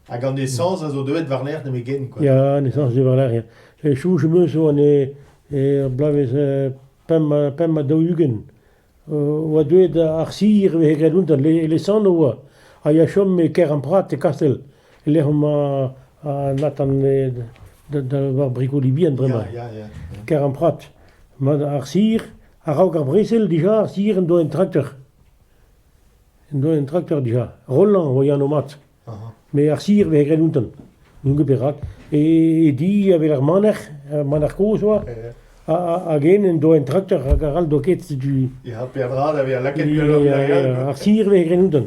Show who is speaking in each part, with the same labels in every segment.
Speaker 1: Hag an esañs a zo deuet war-lerc'h
Speaker 2: nemetken, quoi. Ya, an esañs zo war-lerc'h, ya. Chouch am eus oa er bloavezh pemp ha daou-ugent. oa deuet ar sir vehe graet un e lesanv oa, a ya chom e Keramprat, e Kastell. e-lec'h emañ Nathan war brigoli bihan bremañ.
Speaker 1: Keremprat.
Speaker 2: Ar sir, a-raok ar brezel dija, ar sir en doa un trakteur. En doa un trakteur dija. Rolland oa anv mat. Met ar sir vez graet outañ. N'on ket perak. E di a-wel ar maner, ar maner kozh oa. Hag hen en doa un trakteur hag arall doa ket setu... Ya, peadra da
Speaker 1: vezañ lakaet gwelloc'h. Ar sir vez graet outañ.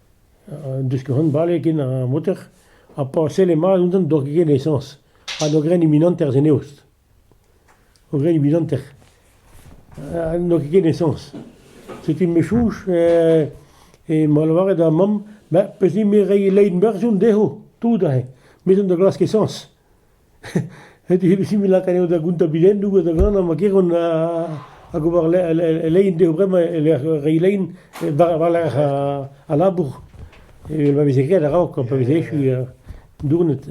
Speaker 2: Diskenn bale ken ar moter ha pa selle mat ouzhpenn doa ket ken esañs ha doa graet iminanter en eost. Doa graet iminanter ha n'oa ket ken esañs. Setu me chouch e ma lavaret da mamm ma peus-hi-me reiñ lein berr 'zo dezho, tout aze. Me 'zo da glask esañs. Difficil lakaat eo da gontabilennoù ha da vihanañ ma keront hag ober lein dezho bremañ e-lec'h reiñ lein war-lerc'h al labour. Evel ma veze graet a-raok pa veze echu dournet.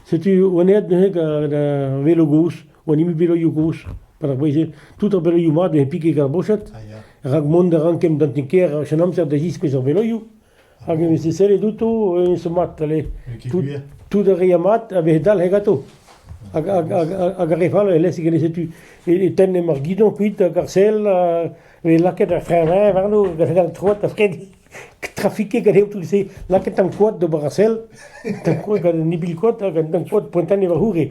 Speaker 2: Setu wannaet neuze da velo gozh, an hini beloioù gozh, perak bez eo tout ar beloioù mat eo pike ar boched rak mont a ran kemm d'an ti-kêr en amzer da ziskouez ar beloioù. Hag e veze sellet outo, e zo mat ale. Tout, tout a rea mat a veze dalc'het ganto. Hag, hag, hag, hag ar re fall, e-lec'h e setu e, e tenn ar guidon kuit hag ar sell, e lakaet ar frein warno, hag ar al troad a fred trafiquer gant tout se, lakaet an koad d'ober ar sell, an koad gant an ibil koad, hag an koad pointan e var c'houre.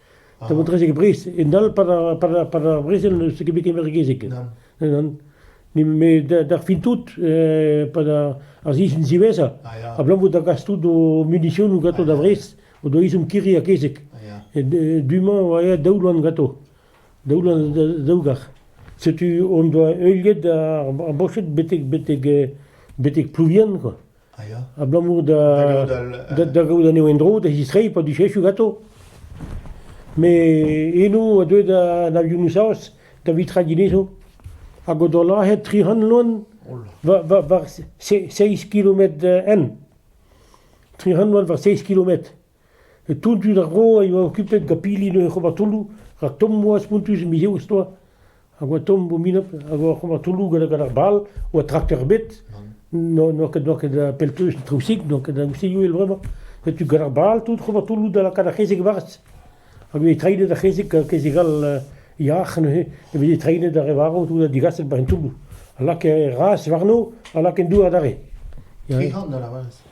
Speaker 2: Da vont rejek Bris, un all par ar, par ar, par ar brezel n'eus ket bet kembergezek. Nan. Me d'ar fin tout, par ar, ar zizun ziweza, ablamour da gas tout o munition gato da Bris, o do izum kiri a kezek. Du-mañ oa ea daou loan gato, daou loan daou gar. Setu on doa heuliet ar, ar bochet betek, betek, betek Plouvian, quoi. Ah, ya. Abalamour da, da, da gaout anezho en-dro, da zistreiñ pa dujechu ganto. Me eno a deu da da Vionusaos da vitraginezo. Hag o do lahet tri c'hant loan war, war, war se- seizh kilometr en. Tri c'hant loan war seizh kilometr. Tout dud ar vro a yoa okupet gant pili en ur c'hromatolloù rak tommoù ha spontus mizeoù a-stoa. Hag oa tomm o minab a oa ar c'hromatolloù gant gant ar bal, oa trakteur ebet, n'oa n'oa ket n'oa ket pellkeuz traousik, n'oa ket traousik uhel bremañ. Setu gant ar bal tout c'hromatolloù da lakaat ar c'hezeg varz. A veze treinet ar c'hezeg gant kezeg all yac'h neuze e veze treinet ar re varv tout ha digaset war an toulloù. A lakae razh warno, a lakaen dour adarre. Ya, ya. Tregont da lavaret.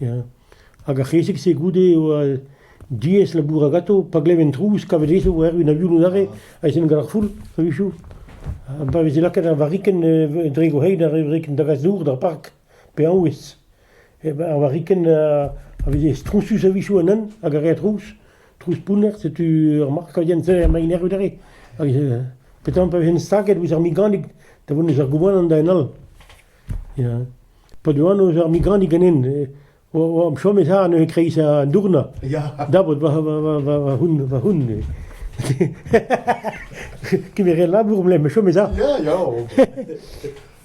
Speaker 2: Ya, hag ar c'hezeg-se goude eo diaes labourat ganto pa gleven trouz kavet ezhoù erru en avionoù aze aes int gant ar foul a-wechoù. Pa veze lakaet ar varrikenn dre gourc'hein ar varrikenn da gas dour d'ar park pe arouez, ar varrikenn a veze stronsus a-wechoù anezhañ hag a rae trouz, trouz pounner, setu ur mark a yen sell emaint erru aze. Hag petra pa vezent staget ouzh ar miganig da vont eus ar goubanant da en all. Ya. pa oa anv eus ar migranti ganin oamp chomet ha neuze kreiz an dourna dabot va c'houn kemeret labour mle ma chomet ha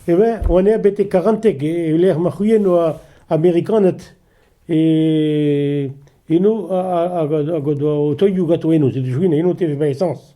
Speaker 2: e ben oan aet betek karanteg e lec'h ma c'houien oa amerikaned eno hag o toioù gato eno se da chouin eno te vez baesañs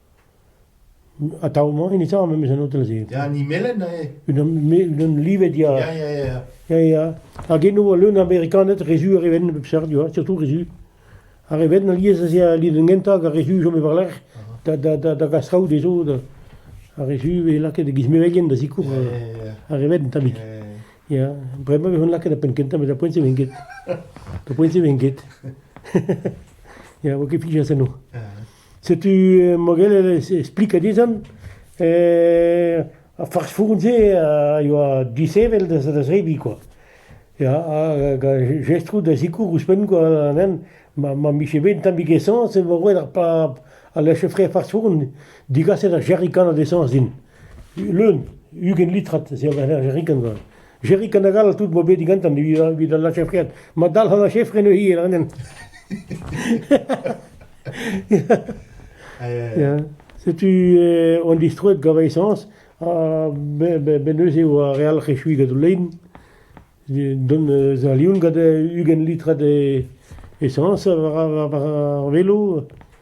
Speaker 2: Atav-mañ hini 'ta am eus un hotel-se. Ya, an Himelenn
Speaker 1: eo. Unan unan
Speaker 2: livet ya. Ya, ya, ya. Ya, ya. Hag eno eo leun a Amerikaned, re zu ar re venn a bep seurt, you know, surtout re zu. Ar re venn alies ez ea lien gentañ hag ar re zu chom war-lerc'h da da da da gas traoù dezho. da- Ar re zu e lakaet e gizmevegien da zikour Ya, ya, ya. ar re venn tammig. Eh, Ya, bremañ e vont lakaet da penn kentañ, met ar poent-se ven ket. Ar poent-se ven ket. Ya, vo ket fiziañs enno. ah. Setu mogelet e splik dezhan. Ar fast-food-se a yoa disheñvel da zebriñ kwa. Ya, hag jestroù da sikour ouzhpenn kwa anezhan ma mije bet un tammig esañs e vo roet ar pab al lech-fre fast-food digaset ar jerrikan a-desañs din. Leun, ugent litrat, se a ber jerrikan kwa. Jerik an agal tout bo bet digantan evit al lachefred. Ma dalc'h an lachefren eo hir anen. Setu on distroet gant esañs ha ben eus eo ar re all echui gant o lein. Don eus a lion gant ugent litrat esañs war ar velo.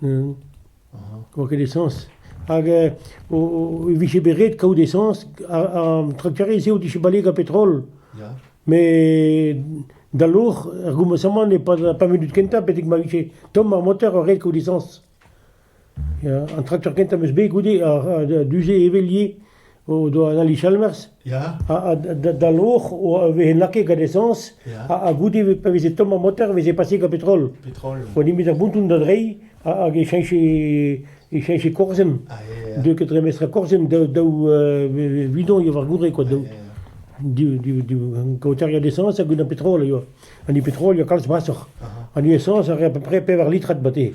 Speaker 2: Ne oa ket esañs. Hag e vije bet ret kaout esañs. An trakterez-se o dije bale gant petrol. Ya. Met da loc'h, er gomañsamant, e-pad ar pemp minut kentañ, betek ma vije tomm ar motor, ret kaout esañs. Ya, an trakteur kentañ 'm eus bet goude, du-se, Evelier. o doa an ali Chalmers, ya. ha, da loc'h a veze lakaet gant esañs, ha, goude, pa veze tomm ar motor, veze paset gant petrol. Petrol. Oa nemet ar bouton da drei, hag e cheñche, e cheñche korzenn. Ah, Deu ket dre mestr korzenn, daou, daou euh, bidon, eo war gourre, quoi, daou. Du, du, du, kaoter gant esañs hag un petrol, eo. An petrol, eo kalz brasoc'h. An esañs a rea à peu près pevar litrat bate.